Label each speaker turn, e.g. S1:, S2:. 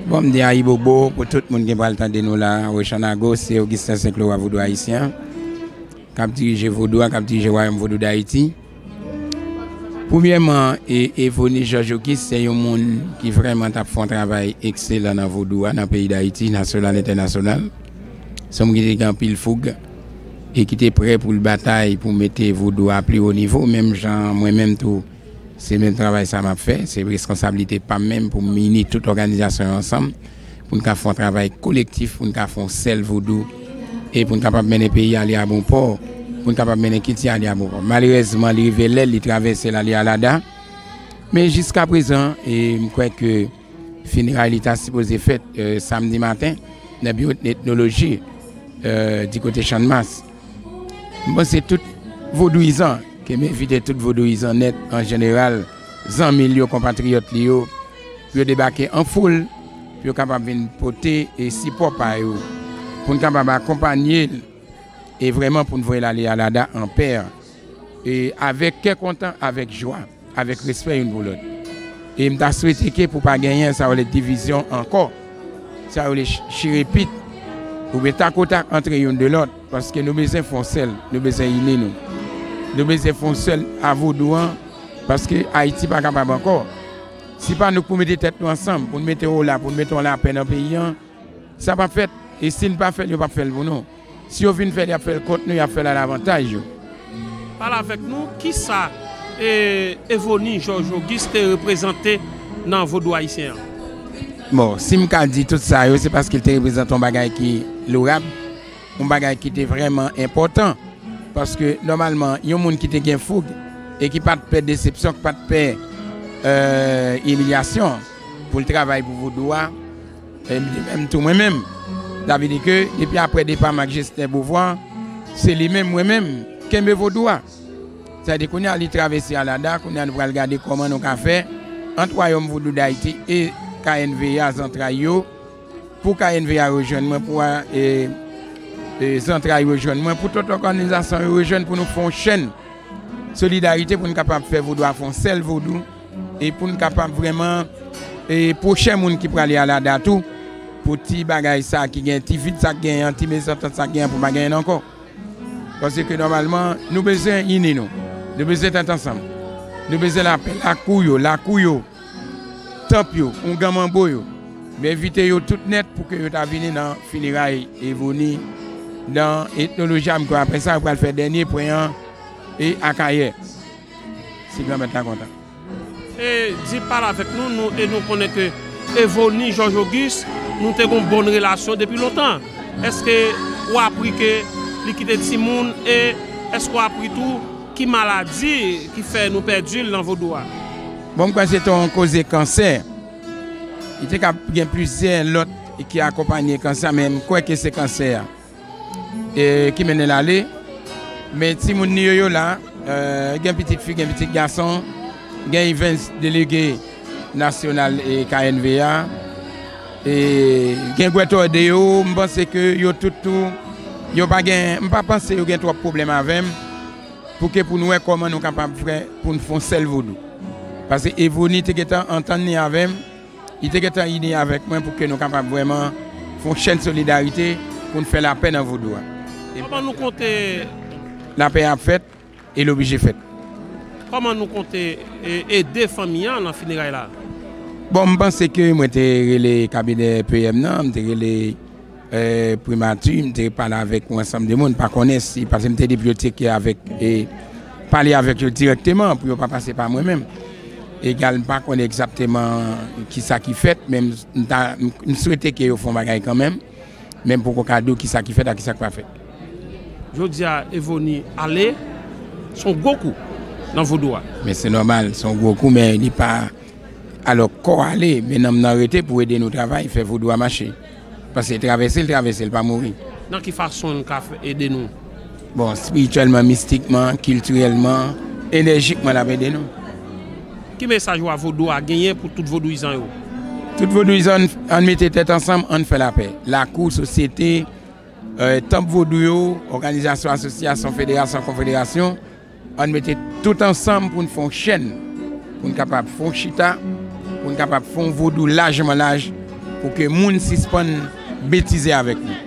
S1: Bon m di ayibobo pou tout moun ki pral tande nou la a, Roshanna Ghost se Augustin Saint Laurent Vodou Ayisyen an k ap dirije Vodou a, k ap dirije Wayòm Vodou Dayiti. Premyèman, Evonus Georges Auguste se yon moun ki vrèman t ap fè yon travay ekselan nan Vodou a nan peyi Dayiti, nasyonal, entènasyonal. Se yon moun ki te gen anpil foug e ki te prè pou l batay pou mete Vodou a a pi wo nivo menm jan mwen menm tou. Se menm travay sa m ap fè. Se reskonsablite pa m menm pou m ini tout òganizasyon yo ansanm pou n ka fè yon travay kolektif, pou n ka fè yon sèl vodou e pou n kapab mennen peyi a ale a bon pò, pou n kapab mennen kilti a ale a bon pò. Malerèzman, li rive lè l, li travèse l ale a lada. Men jiskaprezan, e m kwè ke fineray li ta sipoze fèt samdi maten nan biwo etnoloji dikote Channmas. Mwen panse tout vodouyizan ke m evite tout vodouyizan nèt an jeneral, zanmi l yo, konpatriyòt li yo, pou yo debake an foul, pou yo kapab vin pote sipò pa yo, pou n kapab akonpanye l e vrèman pou n voye l ale Alada anpè, avèk kè kontan, avèk jwa. Avèk respè youn pou lòt. E m ta swete ke pou pa genyen sa yo rele divizyon ankò. Sa yo rele chire pit oubyen tak o tak antre youn de lòt. Paske nou bezwen fè yon sèl. Nou bezwen ini nou. Nou bezwen fè yon sèl a vodou an. Paske Ayiti pa kapab ankò. Si pa nou k pou mete tèt nou ansanm, pou nou mete ola, pou nou mete yon lapè nan peyi an, sa p ap fèt. E si n pa fè l, yo p ap fè l pou nou. Si yo vin fè l y ap fè l kont nou, y ap fè l a lavantaj yo. Pale
S2: avèk nou, ki sa Evoni Jòj Ogis te reprezante nan vodou ayisyen an? Bon,
S1: si m ka di tout sa yo, se paske l te reprezante yon bagay ki lourab, yon bagay ki te vrèman enpòtan. Paske nòmalman, yon moun ki te gen foug e ki pa t pè desepsyon, ki pa t pè imilyasyon pou l travay pou vodou a, E m di menm tou mwen menm, sa vle di ke depi aprè depa m ak Jesnè Bovwa, se li menm mwen menm, kenbe vodou a. Sa di kounye a li travèse alada, kounye a nou pral gade kòman nou ka fè ant Wayòm Vodou Dayiti e KNVA zantray yo, pou KNVA rejwenn mwen, pou zantray rejwenn mwen, pou tout òganizasyon yo rejwenn pou nou fè yon chenn solidarite pou nou kapab fè vodou a fè yon sèl vodou. e pou n kapab vrèman pwochen moun ki prale al ada tou pou ti bagay sa ki gen ti vid sa ki genyen an ti mezantant sa ki genyen an pou pa genyen l ankò paske nòmalman nou bezwen ini nou nou bezwen tèt ansanm nou bezwen lapè lakou yo lakou yo tanp yo ougan manbo yo m envite yo tout nèt pou ke yo ta vini nan fineray Evoni nan etnoloji a m kwè apre sa yo pral fè dènye pwen an e Akayè. si Granmèt la kontan. E
S2: di pale avèk nou, nou e nou konnen ke Evoni Jòj Ogis nou te gon bon relasyon depi lontan. Èske ou apri ke li kite timoun e èske ou apri tou ki maladi ki fè nou pèdi l nan vodou a? Bon, m kwè se te
S1: yon koze kansè. Li te kab gen plizyè lòt ki akonpanye kansè a men m kwè ke se kansè a. ki mennen l ale, men timoun li yo, yo la, gen pitit fi, gen pitit gason, gen Evens, delege nasyonal KNV a, e gen Guethorde yo, m panse ke yo tout tou, yo pa gen, m pa panse yo gen twòp pwoblèm avè m, pou ke pou nou wè kòman nou kapab fè pou nou fè yon sèl Vodou. Pase Evrony te gen tan antann li avè m. Li te gentan ini avèk mwen pou ke nou kapab vrèman fè yon chèn solidarite pou n fè lapè nan Vodou a. Kòman nou
S2: konte. Lapè a
S1: ap fèt e l oblije fèt. Kòman nou
S2: konte ede fanmi an nan fineray la? Bon, m panse
S1: ke mwen te rele kabinè PM nan, m te rele. Primati, m te pale avèk yon ansanm de moun, m pa konnen si, pase m te di pou yo tcheke avèk, pale avèk yo dirèkteman pou yo pa pase pa mwen menm. Egal m pa konnen egzakteman ki sa ki fèt, men m ta, m swete ke yo fè yon bagay kanmenm, men m poko ka di w ki sa ki fèt ak ki sa k pa fèt. Jodi
S2: a Evoni ale, se yon gwo kou nan vodou a. Men se nòmal, se
S1: yon gwo kou men li pa, alò kò ale men nanm nan rete pou ede nou travay, fè vodou a mache. Paske travèse l travèse l pa mouri. Nan ki fason l
S2: ka ede nou? Bon, espirityèlman,
S1: mistikman, kiltirèlman, enèjikman l ap ede nou. Ki
S2: mesaj wa vodou a genyen pou tout vodouyizan yo? Tout
S1: vodouyizan ann mete tèt ansanm ann fè lapè. Lakou, sosyete, tanp vodou yo, òganizasyon, asosyasyon, federasyon, konfederasyon. Ann mete tout ansanm pou n fè yon chèn, pou n kapab fè yon chita, pou n kapab fè yon vodou lajman laj pou ke moun sispann betize avèk nou.